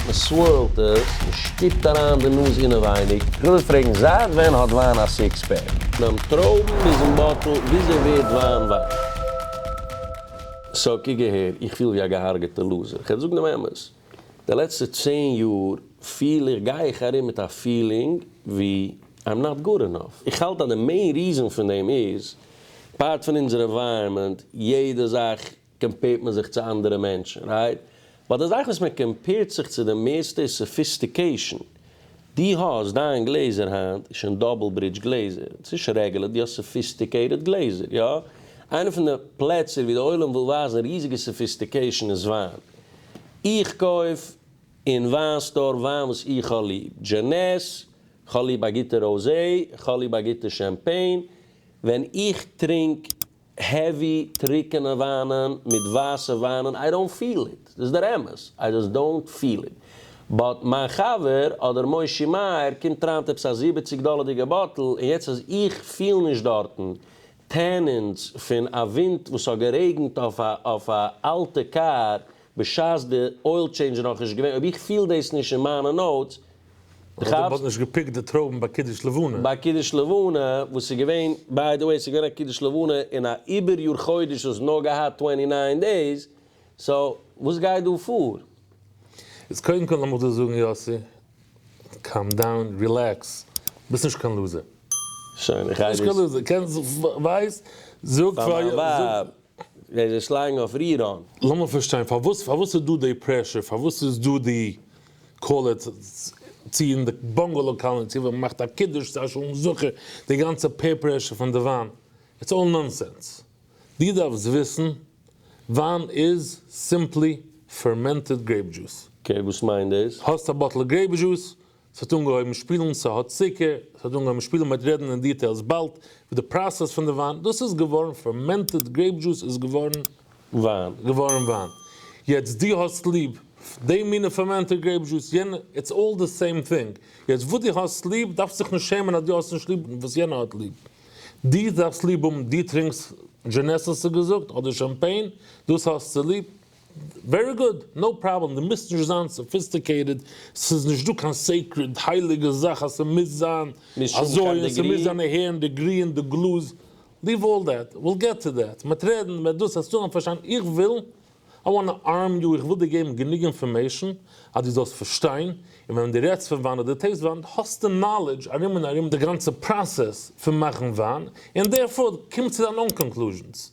מען סווערלט עס, מען שטופט אריין די נאז אינעווייניג. איך וויל פרעגן, זייט ווען האט וויין א סיקס פעק? ביים טרויבן ביזן באטל, וויאזוי ווערט וויין וויין? סאו קוק אהער, איך פיל ווי א געהארגעטע לוזער, כ'על זאגן דעם אמת, די לעצטע צען יאר פיל איך, גיי איך ארום מיט א פילינג ווי איים נאט גוד ענאף, איך האלט אז די מעין ריזען פון דעם איז, אפארט פון אונזער ענווייראמענט, יעדע זאך קאמפעירט מען זיך צו אנדערע מענטשן, רייט? באט די זאך וואס מען קאמפעירט זיך צו די מערסטע איז סאפיסטיקעישן. די האסט דיין גלעזער היינט איז שוין דאבל ברידזש גלעזער, ס'איז נישט רעגולער, די האסט סאפיסטיקעיטעד גלעזער, יא? איינע פון די פלעצער ווי די עולם וויל ווייזן ריזיגע סאפיסטיקעישן איז וויין. איך קויף אין וויין סטאר וויין וואס איך האב ליב, דזשענעס, כ'האב ליב א גוטע ראוזעי, כ'האב ליב א גוטע שעמפעין, ווען איך טרינק העווי טריקענע וויינען מיט ווייסע וויינען איי דאונט פיל איט, דאס איז דער אמת, איי דזאסט דאונט פיל איט, באט מיין חבר אדער מושי מאיר קומט אריין מיט עפעס א זיבעציג דאלערדיגע באטל און יעצט אז איך פיל נישט דארטן טענענס פון א ווינט וואס האט גערעגנט אויף א אלטע קאר בשעת די אויל טשעינדזש איז נאכנישט געווען, אויב איך פיל דאס נישט אין מיינע נאוטס, די כאפסט? מ'האט נישט געפיקט די טרויבן ביי קידוש לבנה. ביי קידוש לבנה, וואס איז געווען, ביי די וועי, ס'איז געווען א קידוש לבנה אין א איבער יאר חודש וואס האט נאר געהאט טווענטי ניין דעיס, סאו, וואס גייט דא פאר? איז קודם כל לאמיר דא זאגן יאסי, קאם דאון, רילעקס, ביסט נישט קיין לוזער. שוין, איך גיי דאס. ביסט נישט קיין לוזער, קענסט, ווייסט, זאג פאר מיין ווייב. ער איז ערשט לייגן אויף ריראן. לאמיר פארשטיין פארוואס פארוואס איז דא די פרעשור פארוואס איז דא די קאלער צו אין די באנגעלא קאלעני צו ווען מען מאכט א קידוש צו א שלום זכר די גאנצע פעיר פרעשור פון די וויין איטס אלל נאנסענס די דארפסט וויסן וויין איז סימפלי פערמענטעד גרעיפ דזשוס. אקעי וואס מיינט דאס? האסט א באטל גרעיפ דזשוס ס'האט אנגעהויבן שפילן ס'האט צוקער, ס'האט אנגעהויבן שפילן מ'העט רעדן אין דיטעילס באלד וועט די פראסעס פון די וויין דאס איז געווארן פערמענטעד גרעיפ דזשוס איז געווארן וויין געווארן וויין יעצט די האסט ליב די מינע פערמענטעד גרעיפ דזשוס יענע איטס אלל די סעים טינג יעצט וואס די האסט ליב דארפסט זיך נישט שעמען אז די האסט נישט ליב וואס יענע האט ליב די דארפסט ליב האבן די טרינקסט דזשענעסס געזאגט אדער שאמפעין דאס האסטו ליב. ווערי גוד, נאו פראבלעם, דו מוזט נישט זיין סאפיסטיקעיטעד, ס'איז נישט דא קיין סעיקרעד הייליגע זאך אז ס'מוז זיין אזוי און ס'מוז זיין אהער און די גרי און די גלאז, ליוו אלל דעט, וויל געט טו דעט, מ'וועט רעדן, מ'וועט דאס, העסטו אהן פארשטיין, איך וויל, איי וואנט טו ארם יו, איך וויל דיר געבן גענוג אינפארמעישן אז דו זאלסט פארשטיין, און ווען דו רעדסט פון וויין אדער טעיסט וויין, האסטו נאלעדזש ארום און ארום די גאנצע פראסעס פון מאכן וויין, און דערפאר קום צו דיין אן קאנקלוזשענס,